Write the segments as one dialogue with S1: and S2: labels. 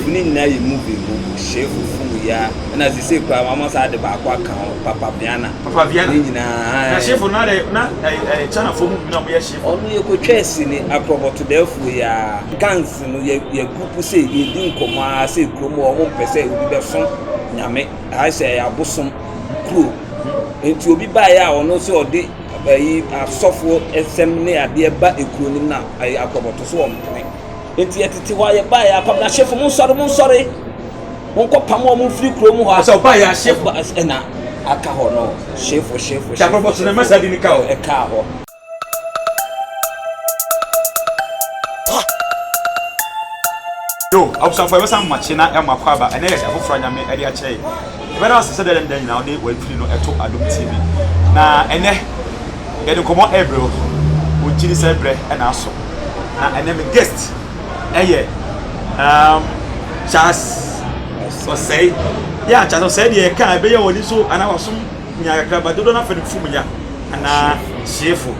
S1: Ɔsɛefo no nyinaa yɛ mu bi, Bobo, Shefo, Fugu, Yaa, ɛna sesei koraa wɔama saa ade baako aka ho, Papa Viana. Papa Viana. Ne nyinaa, ae. Na Shefo no, na de, na ɛyɛ, ɛyɛ
S2: Chanafoɔ mu bi na wɔyɛ Shefo. Ɔno yɛkɔtwaa sini,
S1: akorɔbɔtodɛɛfoɔ yi ara. Gangs no, yɛ, yɛ group sei, yɛredi nkɔmmɔ ara sɛ kurom hɔ wɔn mpɛ sɛ obi bɛsom Nyame. Ha sɛ ɛyɛ abosom kuro. Enti obi baeɛ a ɔno sɛ ɔde ɛyi asɔfoɔ ɛsɛm ne adeɛ ba ekuro no mu na ɛyɛ akorɔbɔto so wɔn mpene. Enti yɛtete hɔ a yɛbaeɛ a kwabena hyefo monsɔre monsɔre monkɔpam wɔn mfiri kurom hɔ a sɛ ɔbaeɛ a hyefo
S2: ɛna aka
S1: hɔ no hyefo hyefo hyefo so na ɛma
S2: saa din no ka hɔ ɛkaa hɔ yo abusuafo ɛbɛsan makye na ɛma kɔ aba ɛnɛ yɛ afoforɔ nyame ɛde akyerɛ Yɛbɛda wo ase sɛ dɛn ne dɛn nyinaa wode w'afiri no to Adom TV. Na ɛnɛ yɛde nkɔmmɔ ɛrebrɛ wo. Wogye di sɛ berɛ na aso. Na ɛnɛ me guest ɛyɛ um, Charles Osei. Yeah, Charles Osei deɛ yɛka ɛbɛyɛ w'ani so anaa w'asom nya kakra ba dodoɔ no afɛ no fufuo mu nya anaa hyeefo.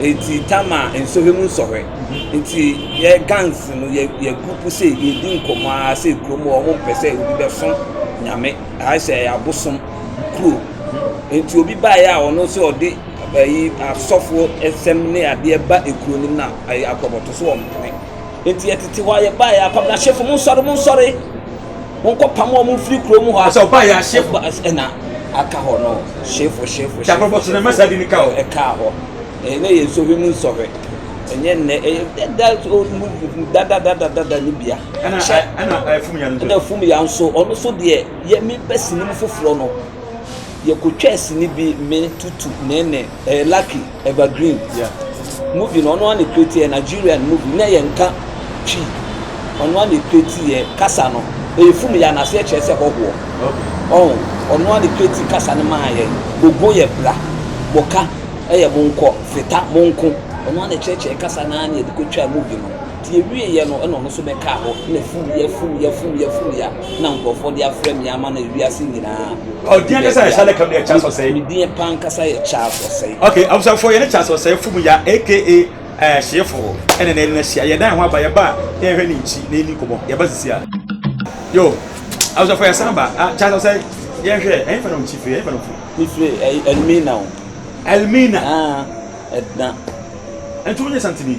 S1: Eti tama nsɔhwɛ mu nsɔhwɛ. Nti yɛ gangs no yɛ yɛ group sɛ yɛdi nkɔmmɔ ara sɛ kurom hɔ wɔn mpɛ sɛ obi bɛso nyame ayɛ sɛ ɛyɛ abosom kuro. Nti obi baeɛ a ɔno sɛ ɔde ɛyi asɔfoɔ ɛsɛm ne adeɛ ba ekuro no mu na ɛyɛ akorɔbɔto so wɔn mpene. Nti yɛtete hɔ a yɛbaeɛ a kwamina hyefo mo nsɔre mo nsɔre. Wɔkɔ pam wɔn mfiri kurom hɔ a. Sɛ ɔbaa yɛ ahyefo. Ɔba
S2: ɛna aka
S1: hɔ no hyefo hyefo. Sɛ akorɔfo so na ɛma
S2: saa bi ne ka hɔ. Ɛka hɔ.
S1: Ɛnɛ yɛ nsɔhwɛ mu nsɔhwɛ. Ɛnyɛ nnɛ ɛyɛ dada dada dada dada ne bia. Ɛna ɛna ɛfum
S2: yan nso. Ɛna ɛfum yan nso ɔno
S1: so deɛ yɛ mi pɛ sini mu foforɔ no yɛ kotwa sini bi me tutu nɛɛnɛ ɛyɛ lucky. Evergreen yeah
S2: movie no ɔno
S1: ana create yɛ Nigerian movie na yɛ nka twi ɔno ana create yɛ kasa no ɛyɛ fum yɛ anase ɛkyerɛ sɛ hɔhoɔ ɔn ɔno ana create kasa no maa yɛ bogo yɛ bra boka ɛyɛ monkɔ feta monko ɔno ana kyerɛkyerɛ kasa no ana yɛde kɔtwaa movie no Nti ɛwieɛ no ɛna ɔno nso bɛkaa hɔ na fuuyɛ fuuyɛ fuuyɛ fuuyɛ a na nkurɔfoɔ de afrɛ me ama no ewiase nyinaa. Ɔdin ankasa
S2: yɛ Charles Kamia Charles Ɔsɛe. Me din pa ankasa
S1: yɛ Charles Ɔsɛe. Okay, abusuafoɔ yɛne Charles
S2: Ɔsɛe fom ya aka ɛɛ eh, hyeefoɔ ɛna na ɛna hyia yɛdan ho aba yɛba na yɛhwɛ ne nkyi na yɛni nkɔmɔ yɛba sisi a yo abusuafoɔ yɛsan ba ah, Charles Ɔsɛe yɛnhwɛ ɛyɛ fɛ na ɔnkyi firi ɛyɛ fɛ na ɔfiri. Mefiri ɛyi
S1: Elmina o. Elmina. Ah, ɛdna. Nti
S2: wonyɛ santini.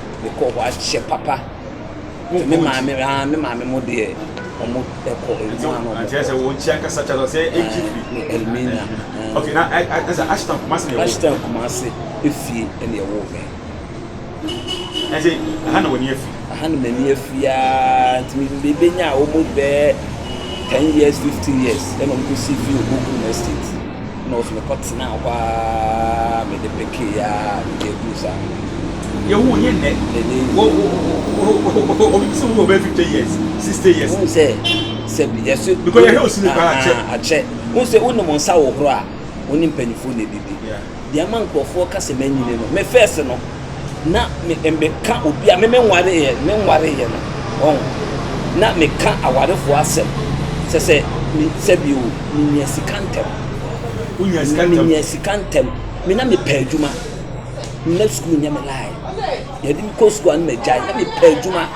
S1: mekɔ hɔ akyɛ papa nti me maame aa me maame mo deɛ ɔmo ɛkɔ ɛmu ano ɔmo kɔ sɛ wɔn kyia kasa
S2: kyɛ sɛ ɛgyi fi ne ɛlmina
S1: ok na
S2: ɛsɛ ashton kumase na ɛwɔ ashton kumase
S1: efie ɛna ɛwɔ mɛ ɛsɛ
S2: ɛha na wɔn afi ɛha na mani afi
S1: aa nti mi bebe nya a wɔn bɛɛ ten years fifteen years ɛna wɔn kɔ si fi ogoku na estate. Ɛna ɔso mekɔ tenaa hɔ aa mede pekee aa nti ɛduru saa. Deɛ wo
S2: nyɛ nnɛ wo wo obi bisa wo wɔ bɛyɛ fifty years sixty years. Wohu sɛ sɛ
S1: yɛso because yɛhwɛ osi ne
S2: paa akyɛ akyɛ wohu
S1: sɛ wonim wo nsa wo horo a wo ne mpanyinfoɔ na ɛdidi deɛ ama nkorɔfoɔ ka sɛ manyini no me first no. na me meka obi a me me nwareeɛ me nwareeɛ no ɔn na meka awarefoɔ asɛm sɛ sɛ me sɛ bi o menya sika ntɛm na menya sika ntɛm me na mepɛ adwuma na sukuu nyɛ me lae yɛde me kɔ sukuu a na magyae na mepɛ adwuma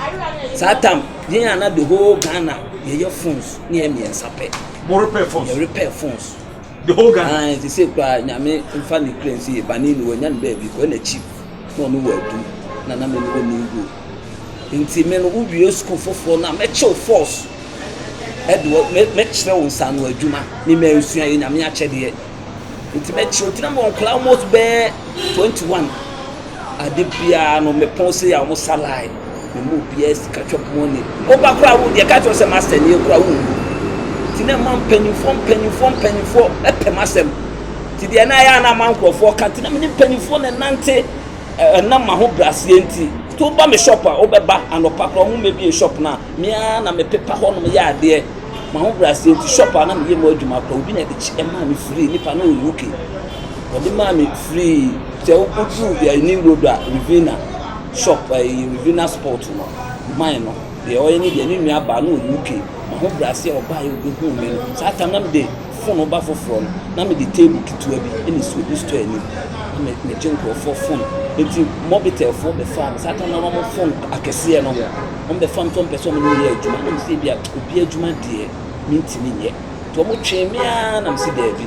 S1: saa tam yɛn a na the whole ghana yɛyɛ phones ne yɛ mmiɛnsa pɛ
S2: yɛrepɛ phones Aane, te sei koraa, Nyame
S1: mfa ne kra nsie, bane ni, wanya ne baabi kɔ, ɛna akyi na ɔne wo adu, na na me ne wo nni goɔ, nti me no wo wie sukuu foforɔ no a, mɛkye wo force, ɛde wo, me, mɛkyerɛ wo nsaano adwuma, me mansua, ɛyɛ Nyame akyɛdeɛ, nti mɛkye wo, nti na mewɔ nkwadaa almost bɛyɛ 21, ade biara no, mepɔn sei a, wɔn sa line. Wɔn mu obiara sika twam ho ni. Wo ba koraa wo deɛ ɛka kyerɛ sɛ master nie koraa wo nhu. Ti na ɛma mpanyinfoɔ mpanyinfoɔ mpanyinfoɔ ɛpɛ m'asɛm. Ti deɛ na ɛyɛ a na ama nkorɔfoɔ ka ti na mene mpanyinfoɔ na ɛnante ɛnam m'ahobraseɛ nti. Ti wo ba me shop a wo bɛba anɔpa koraa wɔn mmɛbie shop no a me ara na me pepa hɔ nom yɛ adeɛ. M'ahobraseɛ nti shop a na me yɛ mu adwuma koraa obi na ɛde kye ɛmaa me free nipa no ɔnhu ke. Wɔde maa me free sɛ wokodu ɛyi road a Rivina shop ɛyi Rivina sport no man no deɛ ɔyɛ ne deɛ ne nua baa no wɔ UK ma ho brase a ɔbaa yɛ obi hu me no saa tam na me de fon ɔba foforɔ no na me de table ketewa bi ɛna esi obi store anim na me me gye nkorɔfoɔ fon eti mɔbitel foɔ bɛ faa me saa tam na wɔn fon akɛseɛ no wɔn bɛ fam tɔn pɛ sɛ wɔn yɛ adwuma na wɔn sɛ ebi a obi adwuma deɛ me ntumi nyɛ tɔn mo twɛn me ara na me si dɛbi.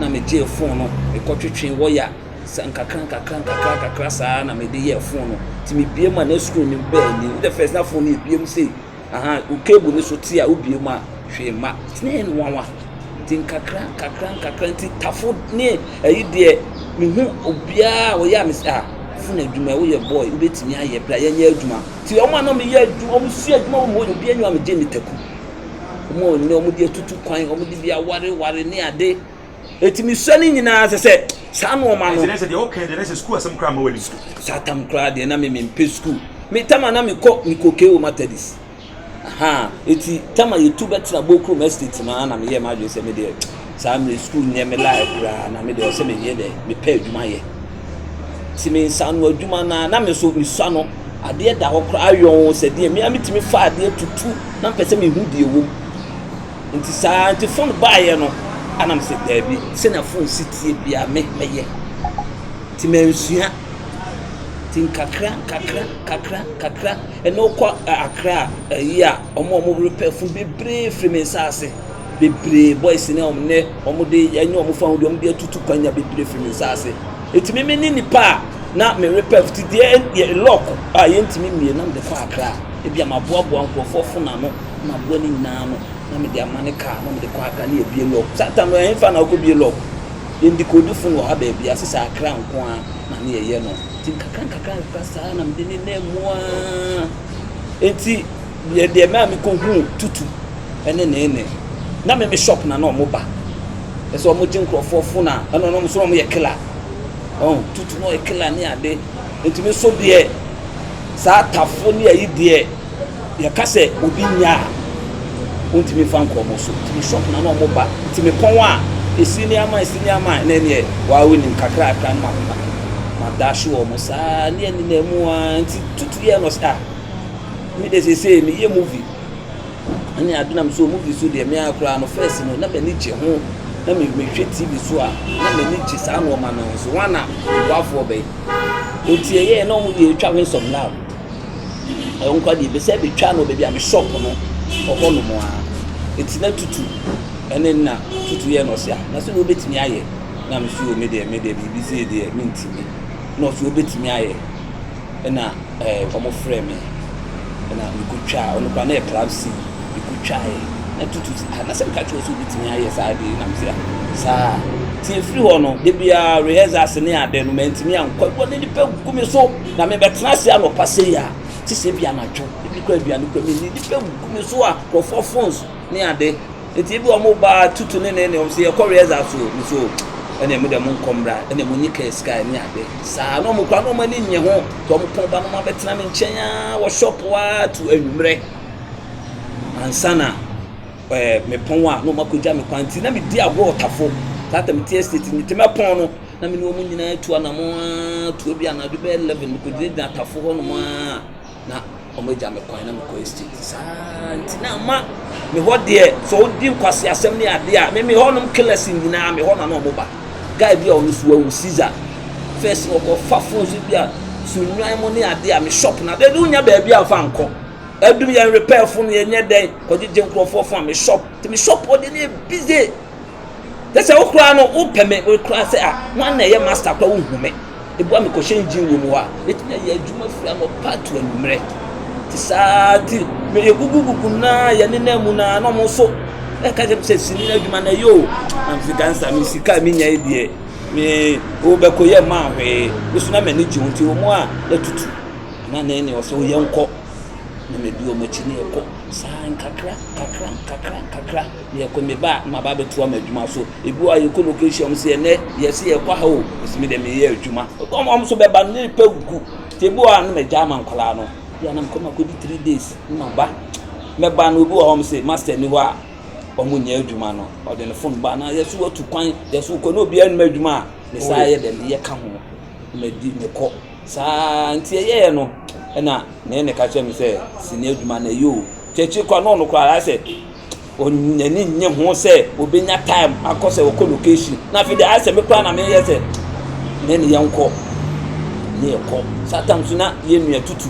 S1: na megyee fon no, mekɔtwetwee wɔya sɛ nkakra nkakra nkakra nkakra saa na mede yɛɛ fon no nti mebie mu a na screen no bɛɛ ni the first na fon no ebie mu sei aha wo cable no so te a wobie mu a hwee ma nti na ɛyɛ no nwanwa nti nkakra nkakra nkakra nti tafo ne ɛyi deɛ mehu obiara a wɔyɛ a mesɛ a fon adwuma ɛwo yɛ boy wobɛtumi ayɛ bra yɛnyɛ adwuma nti wɔn a na meyɛ adwuma wɔn sua adwuma wɔn hɔ yɛ obiara nyɛ wɔn a megye ne taku wɔn a wɔnya wɔn de atutu kwan wɔn de bi awareware ne ade ɛtumi sua ne nyinaa sɛ sɛ saa nnoɔma no sɛ deɛ wokɛ deɛ na sɛ sukuu
S2: asɛm koraa ma w'ani so saa tam koraa deɛ na
S1: memempɛ sukuu metama na mekɔ mekɔkee wɔ matadis aha ɛti tama yɛtu bɛtena bokrom estate no a na meyɛ m'adwene sɛ medeɛ Saa mmerɛ yi sukuu nyɛ me life koraa na me deɛ ɔsɛ me yɛ dɛ me pɛ adwuma yɛ ti me nsa ano adwuma na na me so me sua no adeɛ da hɔ koraa yɔn sɛ deɛ me a metumi fa adeɛ tutu na mpɛ sɛ mehu deɛ wɔ mu nti saa nti fon baayɛ no anam sɛ daabi sɛ na fon si tie bia me mɛyɛ nti mansua nti nkakra nkakra nkakra nkakra ɛna ɔkɔ akra ayi a ɔmo ɔmo repɛ fon bebree firi me nsa ase bebree, boys no a wɔn nnɛ wɔde anya wɔn fahodie, wɔde atutu kwan nya bebree firi me nsa ase. Ɛtumi me ne nipa a na merepɛ fiti deɛ lɔk a yɛntumi mmie na mede kɔ akra. Ebi a maboaboa nkurɔfoɔ fo n'ano, maboa ne nyinaa ano na mede ama ne kaa na mede kɔ akra ne yɛbie lɔk. Saa tam no ɛhefa na wokɔ bie lɔk? Yɛn dikodi fon wɔ ha baabi a, sesɛ akra nko ara na ne yɛyɛ no. Nti nkakra nkakra nkakra saa na mede ne nam mu ara. Nti. Yɛ deɛ mɛa me kɔ huu tutu ɛne neene na me me shop na na ɔmo ba ɛsɛ ɔmo gye nkorɔfoɔ fo na ɛna ɔmo so na ɔmo yɛ killer ɔn tutu na ɔyɛ killer ne ade nti me so deɛ saa tafo ne ayi deɛ yɛ ka sɛ obi nya a ɔntumi nfa nkɔ ɔmo so nti me shop na na ɔmo ba nti me pɔn a esi ne ama esi ne ama ɛna ɛneɛ waa onim kakra kakra no ma ma ma daahye wɔ ɔmo saa ne ɛne na ɛmu a nti tutu yɛ no ɔsɛ ah. Me de sese me yɛ movie ɛne ade nam so movie so deɛ me ara koraa no first no na m'ani gye ho na me mehwɛ tv so a na m'ani gye saa nneɛma no ho so wɔn na mboafoɔ bɛyi eti ɛyɛ na wɔn deɛ etwa ho nsɔm na ɛwɔ nkwa deɛ ebɛsɛ betwa no baabi a me shop no ɔhɔ nom a eti na tutu ɛne na tutu yɛ na ɔsi a na so na obetumi ayɛ na me so me deɛ me deɛ biribi si deɛ me ntumi na ɔsi obetumi ayɛ. Nna wɔfrɛɛ me na mekotwaa, ɔno koraa na yɛ club C, mekotwaae na tutu ah na sɛ meka kyerɛ wo sɛ wobɛtumi ayɛ saa ade yi na mese ah saa nti ɛfiri hɔ no da biara rehearsals ne ade no mantumi ankɔ adwuma na nnipa gu me so na mebɛtena ase anɔpa sei a te sɛ bi anadwo ebi koraa aduane koraa menni nnipa gu me so a nkurɔfoɔ phones ne ade enti ebi wɔn ba tutu ne ne ne wɔn sɛ yɛkɔ wia dza so ne so ɛna emu dɛ mo nkɔ mbra ɛna mo nyi kɛɛ sika ne ade saa na wɔn kura na wɔn ani nye ho tɔ wɔn pɔn ba na wɔn abɛtena ne nkyɛn aa wɔ shop aa tu anwummerɛ ansa na ɛɛ mepɔn a na wɔn akɔgya me kwan ti na me di agorɔ ɔtafo saa tɛm ti estate ne tɛmɛ pɔn no na me ne wɔn nyinaa tu anamɔ aa tu ebi anadwo bɛyɛ eleven mekɔgyinagyina atafo hɔ nom aa Na wɔagya me kwan na mekɔ estate saa nti na ama me hɔ deɛ sɛ wodi nkwaseasɛm ne adeɛ a me me hɔnom killers nyinaa me hɔ na na wɔba guy bi a ɔno so wawu Caesar first na ɔkɔfa phones bi a so nnwan mo ne adeɛ a me shop na de wonya baabi a mfa nkɔ adum yɛn repair phone yɛnyɛ dɛn kɔgyegye nkurɔfoɔ phone a me shop te me shop ɔde ne busy Kyɛ sɛ wo koraa no wopɛ me wo koraa sɛ a wan na ɛyɛ master koraa wohu me. Ebua me kɔhyɛ engine wɔ mu hɔ a metumi ayɛ adwuma firi anɔpa to anwummerɛ. Te saa ti me yɛgugugugu naa yɛnenam mu naa na ɔmo nso ɛka kyerɛ me sɛ sini adwuma na ɛyɛ o. Na mese gansa me sika a menya yi deɛ me wobɛkɔ yɛ maa hwee. Me so na m'ani gye ho nti wɔn a yɛtutu na ne ne ɔsɛ yɛnkɔ na medi wɔn akyi ne yɛkɔ saa nkakra nkakra nkakra nkakra. Yɛkɔ me ba a maba abɛtoa me adwuma so ebi a yɛkɔ location ɔmo sɛ ɛnɛ yɛsi yɛkɔ aha o ɔsi mi dɛ mi yɛ adwuma ɔmo ɔmo so bɛba ne pɛ gugu te ebi wɔ a ne ma gya ama nkɔlaa no bi a na mekɔ ma kɔ di three days ne ma ba mɛ ba no obi wɔ hɔ ɔmo sɛ master ni hɔ a ɔmo nyɛ adwuma no ɔde ne phone ba na yɛso watu kwan yɛso kɔ na obi anum adwuma a ne saa yɛ dɛ ne yɛ ka ho ma di ne kɔ saa nti ɛyɛ yɛ no ɛna ne ne ka kyerɛ mi sɛ si ne adwuma na yɛ o kyɛkyɛ kɔ a na ɔno kɔ ara sɛ. Ɔnyi n'ani nnye ho sɛ ɔbɛnya time akɔ sɛ ɔkɔ location. Na afei deɛ ayɛ sɛ me koraa na meyɛ sɛ na ne yɛnkɔ. Ne yɛkɔ. Saa tam so na yɛn nua tutu.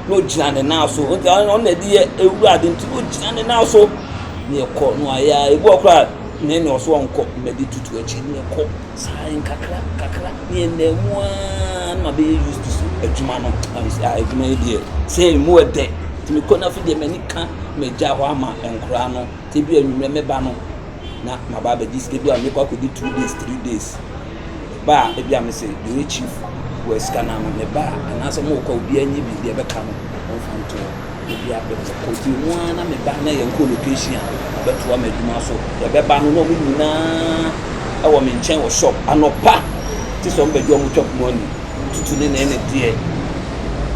S1: Na ɔgyina ne nan so. Nti ɔno na ɛde yɛ ewura ade nti na ɔgyina ne nan so. Ne yɛkɔ. Na wayɛ a ebi wɔ hɔ koraa ne ne ɔso ɔnkɔ mmɛdi tutu akyi. Ne yɛkɔ. Saa nkakra nkakra ne ɛnna mu ara na mabɛyɛ used so adwuma no. Adwuma yi deɛ sɛ ɛmu ɛdɛ nti mekɔ no afei deɛ m'ani ka magya hɔ ama nkoraa no sɛ bi anwummerɛ mɛba no na maba abɛgye sika bi a mekɔ akɔdi two days three days ba a ebi a mese deɛ chief wɔ sika no ano meba a anaasɛ mokɔ obiara nyi bi deɛ ɛbɛka no ɔmfa ntoɔ. Baabi a mekɔdii mu ara na me ba na yɛn co-location a ɔbɛtoa m'adwuma so. Yɛbɛba no na wɔn nyinaa wɔ me nkyɛn wɔ shop anɔpa te sɛ wɔn bɛgye wɔn chop money tutu ne ne ne deɛ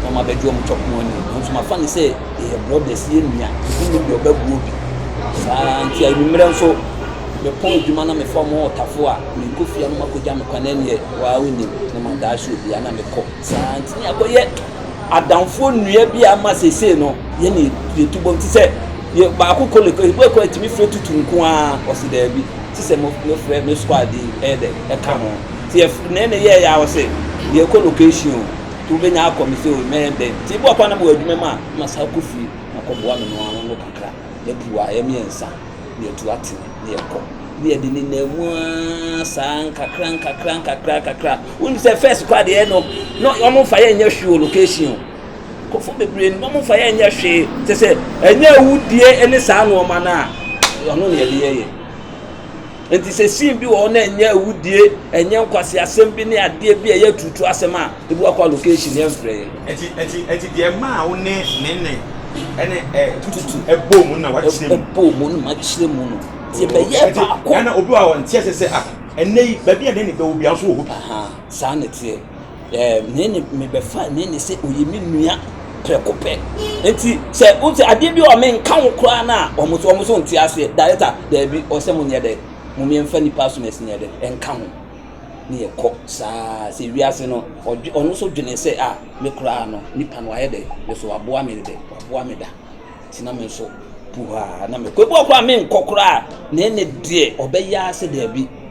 S1: na wɔn abɛgye wɔn chop money. Nanso mafa no sɛ yɛyɛ brothers yɛ nua ebi ne deɛ ɔbɛboɔ bi saa nti anwummerɛ nso mepɔn adwuma na mefa wɔn ɔtafo a menkɔ fie a na wɔakɔgya me kwan ɛneɛ waa wonim na madaahye obiara na mekɔ saa nti ne akɔyɛ adamfoɔ nnua bi a ama seesei no yɛn na yɛtu bom te sɛ yɛ baako kɔ lekɔ ebi kɔ atumi frɛ tutu nko ara ɔsi daabi te sɛ mo mo frɛ me squad yi ɛyɛ dɛ ɛka ho te yɛ na ɛna yɛ yɛ ɔsi yɛ kɔ location o te wobɛnya akɔ me sɛ o mɛyɛ dɛ te ebi ɔkɔ anam wɔ adwuma mu a ma saa kɔ fie na kɔ boa me no ano no kakra yɛ pua yɛ mmiɛnsa. na yɛatu atene na yɛkɔ na yɛde ne nan mu aa saa nkakra nkakra nkakra nkakra wonim sɛ first kɔ adeɛ no na wɔn mfa yɛ nyɛ hwee wɔ location o kɔfɔ bebree no wɔn mfa yɛ nyɛ hwee kyɛ sɛ ɛnyɛ awudie ne saa nneɛma no a ɔno na yɛde yɛ yɛ. Enti sɛ scene bi wɔ hɔ na ɛnyɛ awudie, ɛnyɛ nkwaseasɛm bi ne adeɛ bi a ɛyɛ turutu asɛm a, ebi wakɔ allocation yɛn frɛ yɛn. Eti eti eti deɛ
S2: maa wo ne nene ɛne ɛ tututu ɛbɔ mu na wakyerɛ mu. Ɛbɔ mu na makyerɛ
S1: mu no. Ti ɛbɛyɛ oh, baako. Ɛna obi wa wɔn ti ɛsɛ sɛ
S2: ah ɛnɛ yi baabi a nene bɛwɔ bi ahosuo wɔ hɔ bi. Saa na
S1: ɛteɛ. Nene, mebɛfa Nene sɛ ɔyɛ me nua prɛko pɛ. Nti sɛ o sɛ adeɛ bi a menka wo koraa no a, wɔn so wɔn so nte aseɛ. Director, daabi, ɔsɛ mo nyɛ dɛ, mo mmiɛnfa nipa so na ɛsɛ nyɛ dɛ, ɛnka ho. Ne yɛ kɔ saa sɛ wiase no, ɔdwe ɔno nso dwene sɛ a me koraa no nipa no wayɛ dɛ, me so waboa me dɛ, waboa me da. Nti na me nso puhaa na mekɔ. Ebi wɔ koraa menkɔ koraa, Nene deɛ ɔbɛyɛ ara sɛ daabi,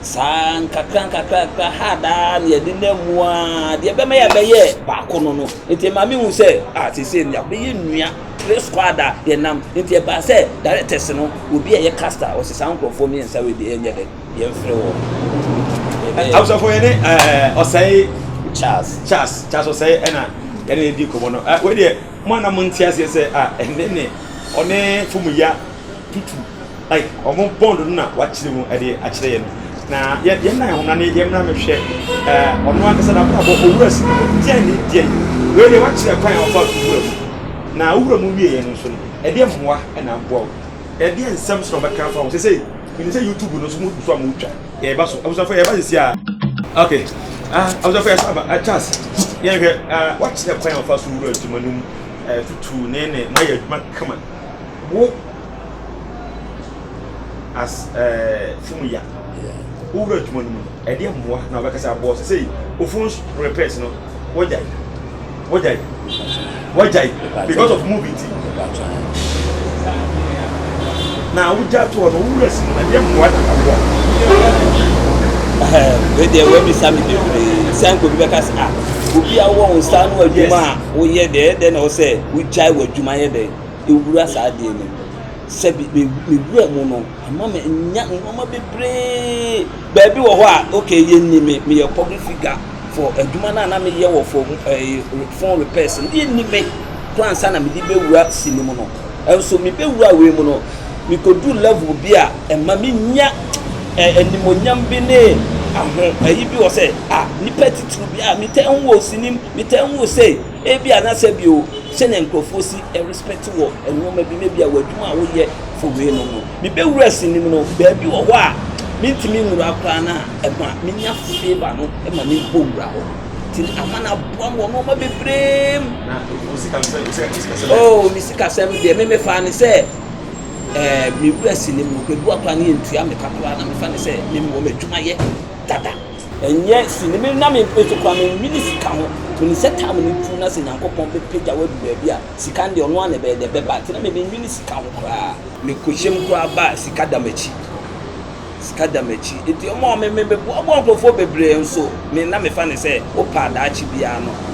S1: Saa nkakrankakra ha a daa na yɛnenam mu ara, deɛ ɛbɛma yɛabɛyɛ baako no no, nti ɛma mehu sɛ, ah seesei no yɛabɛyɛ nua, three squad a yɛnam. Nti ɛbaa sɛ directors no, obi a ɛyɛ caster, ɔse saa nkurɔfoɔ mmiɛnsa wei deɛ yɛnyɛ dɛ, yɛmfrɛ wɔn. Yɛbɛyɛ-
S2: Abusuafoɔ yɛne ɛɛ Ɔsɛe Charles. Charles Charles Ɔsɛe ɛna yɛne ne di nkɔmmɔ no. Ah, wei
S1: deɛ
S2: mo a na monte aseɛ sɛ ah ɛnde ne ɔne Fomuya tutu Wɔn bond no na wakyerɛ mu de akyerɛ yɛn. Na yɛ yɛn nan ho na ne yɛn mmra mehwɛ ɛɛ ɔno ankasa n'abrabɔ owura si mu deɛn ne deɛn. Wei deɛ wakyerɛ kwan a ɔfa so wura mu. Na wowura mu wie yɛ no nso no ɛdeɛn mmoa na aboa wo? Ɛdeɛn nsɛm nso na wɔbɛka afa ho? Sɛsɛi menim sɛ YouTube no nso mogu so a motwa. Yɛreba so abusuafoɔ yɛreba sɛsi a. Ok ah abusuafoɔ yɛsan aba ah Charles yɛn hwɛ ah wakyerɛ kwan a ɔfa so wura adwuma no mu ɛɛ tutuu ne ne moayɛ adwuma kama wo. as ɛɛ funu ya wowura adwuma no mu no ɛdeɛ mmoa na wobɛka sɛ aboɔ sɛ sɛi ofun repairs no wagyae wagyae wagyae because of movie nti na wogya to hɔ no wowura si no ɛdeɛ mmoa na aboa
S1: wei deɛ woabisa me bebree sɛ nka obi bɛka sɛ a obi a wowɔ wo nsa no adwuma a woyɛ deɛ ɛdɛ na wo sɛ wogyae w'adwuma yɛ dɛn wura saa adeɛ no mu. Sɛ bi me mewura mu no, ɛma me nya nneɛma bebree. Baabi wɔ hɔ a, okay, yɛnni me, meyɛ public figure for adwuma no a na meyɛ wɔ for eh, phone repairs no, yɛnni me koraa nsa na mede bɛwura si no mu no. Nso mebɛwura wei mu no, mekɔduru level bi a ɛma menya eh, animonyam bi ne aho ayi bi wɔ sɛ, ah, nipa titiri bi, ah, metaa hu wɔ sinim, metaa hu wɔ sei. Ebia na sɛ bio, sɛnea nkurɔfoɔ si respect wɔ nnoɔma bi mu, ebia w'adwuma a woyɛ for wei nom no, mebɛwura sinim no, baabi wɔ hɔ a mentumi nwura koraa no a ɛma menya favour no ma mebɔ wura hɔ. Nti ama no aboa me wɔ nnoɔma bebree mu. Na wo
S2: sikasɛm, wo sikasɛm ɛ? Oh, me
S1: sikasɛm deɛ, me mefaa no sɛ eh, mewura sinim no, baabi wɔ hɔ koraa no yɛntua me ka koraa na mefa no sɛ me mewɔ m'adwuma yɛ dada. Ɛnyɛ sini me na me nso koraa me nwene sika ho to ne sɛ tam no tu na sɛ Nyankopɔn bɛ pagya wo adu baabi a sika no deɛ ɔno ara na ɛbɛyɛ dɛ ɛbɛba nti na me me nwene sika ho koraa. Me kɔhyɛ mu koraa ba a sika da m'akyi sika da m'akyi nti wɔn a me me bɛ boa boa nkorɔfoɔ bebree nso me na me fa ne sɛ wo pɛ a daakye biara no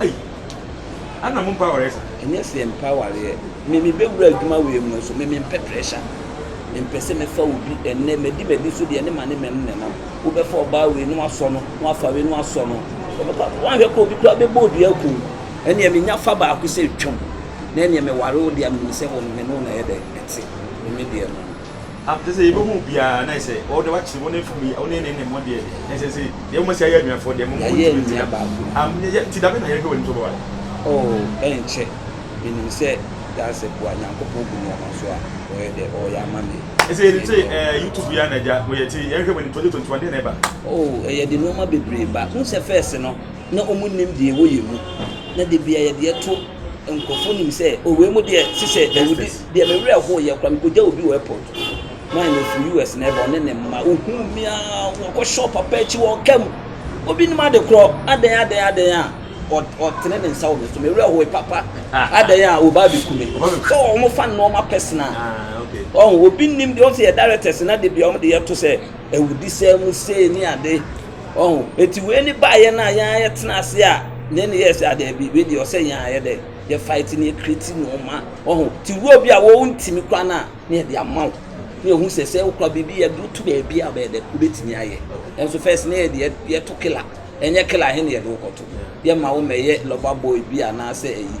S2: Ei! Ana mo mpa awareɛ saa? Ɛnyɛ sɛ yɛn mpa
S1: awareɛ. Me me bɛ wura adwuma wei mu no so me me mpɛ pressure. Me mpɛ sɛ me fa obi ɛnnɛ ma di ma di so deɛ ne ma ne ma no na ɛnam. Wo bɛ fa ɔbaa wei na wa sɔ no na wa fa wei na wa sɔ no. Ɔbɛ kɔ akɔ wanhwɛ kora obi kora bɛ bɔ odua aku wo. Ɛnneɛ me nya fa baako sɛ twam. Na ɛnneɛ me ware wo deɛ a me nim sɛ wo no me ne wo na ɛyɛ dɛ ɛte. Me me deɛ no. a ɛsɛ sɛ yɛbɛhu
S2: wo biara, na ɛsɛ sɛ wɔde wakyere wo na ɛfiri mu yi, wo ne ne ne mo deɛ, na ɛsɛ sɛ deɛ moma si ayɛ anuafoɔ deɛ moma wɔn ntumi ntra. Am, yɛ, yɛ, ti da bɛ na yɛhwɛ w'anim so bɛware. Oh, ɛnkyɛ,
S1: menim sɛ Darcy boa Nyankopɔn gu nnoɔma so a, ɔyɛ dɛ, ɔɔyɛ ama me. Ɛsɛ yɛnim sɛ ɛɛ,
S2: YouTube yi ara na agya, mo yɛ, ti yɛnhwɛ w'anim, 2021 deɛ na ɛba? Oh, ɛyɛ de nnoɔma
S1: bebree ba. Wohu sɛ first no. na wɔnim deɛ wɔyɛ mu, na da biara yɛde ɛto nkurɔfoɔ nim sɛ o wei mu deɛ si sɛ dawudi deɛ me werɛ ho yɛ kora mekɔgya obi wɔ airport maa na ɔfiri us na ɛba ɔne ne mma ɔhuu me a wɔkɔ shop papa akyi wɔ ɔka mu obi nim ade korɔ adɛn adɛn adɛn a ɔtene ne nsa wɔ me so me werɛ ho papa adɛn a ɔba abɛku me sɛ wɔn fa nnoɔma personal ɔho
S2: obi nim deɛ
S1: ɔn sɛ yɛ directors na de bia wɔn de yɛto sɛ awudisɛm mu sei ne ade ɔho eti wei ne baayɛ no a yɛn ayɛ tena ase a ne ne yɛ sɛ adaabi wei deɛ ɔsɛ yɛn ayɛ dɛ yɛ fight ne yɛ create nneɛma ɔho ti wura bi a wɔn ntumi kora no a ne yɛ de ama wo ne yɛ hu sɛ sɛ okura biribi yɛ do to baabi a ɔbɛyɛ dɛ obetumi ayɛ ɛnso first ne yɛ deɛ yɛ to kila ɛnyɛ kila he ne yɛ de wokɔto yɛ ma wo mɛyɛ lover boy bi anaasɛ ɛyi.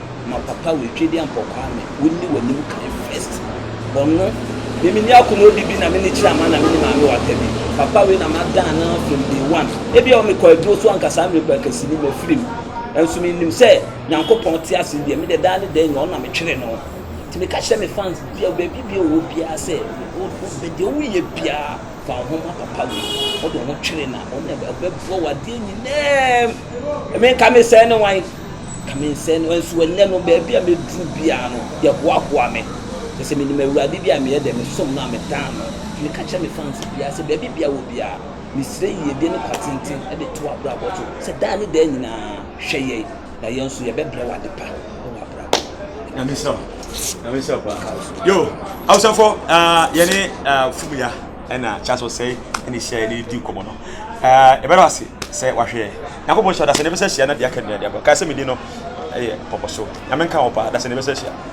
S1: Ma papa wei twedi ampɔ kwame wo nni w'anim kan first ɔno me menni akoma odi bi na menni kyerɛ ama na menni maame wata bi papa wei na madan no from day one ebi a ɔmekɔ aduro so anka saa mmerɛ kɔ akasi ni mafiri mu nso mennim sɛ nyankopɔn te ase deɛ medɛ daa ne daa nyina ɔno na metwere no nti meka kyerɛ me fans bia baabi bia ɔwɔ biara sɛ wobɛ deɛ woyɛ biara fa wo ho ma papa wei wode wo ho twere na ɔno na ɔbɛboa wo adeɛ nyinaa menka me sɛ ne wan Kame nsɛe no, nso ɛnnɛ no, baabi a mɛduru biara no, yɛhoahoa me. Kyerɛ sɛ, menim Awurade bi a meyɛ dɛ, mesom no a medan no. Nti meka kyerɛ me fans biara sɛ, baabi biara wɔ biara, mesrɛ yiedie ne kwa tenten de to w'abrabɔ so, sɛ daa ne daa nyinaa, hwɛ yɛn, na yɛn nso yɛbɛbrɛ wo ade pa wɔ w'abrabɔ mu. Nyame nhyira
S2: wo. Nyame nhyira wo paa. Yo, Hausafoɔ, ah, yɛne, ah, Fumuya. ɛna kyerɛ sɛ ɔsɛe ɛna hyia yɛ ne di nkɔmɔ no ɛɛ ɛbɛrɛ ase sɛ wahwɛ nyakopɔ nhyɛ ɔdasɛ ne bɛsɛ hyia na deɛ aka nyina deɛ aka sɛ medi no ɛyɛ pɔpɔ so nyame nka wɔ paa dasɛ ne bɛsɛ hyia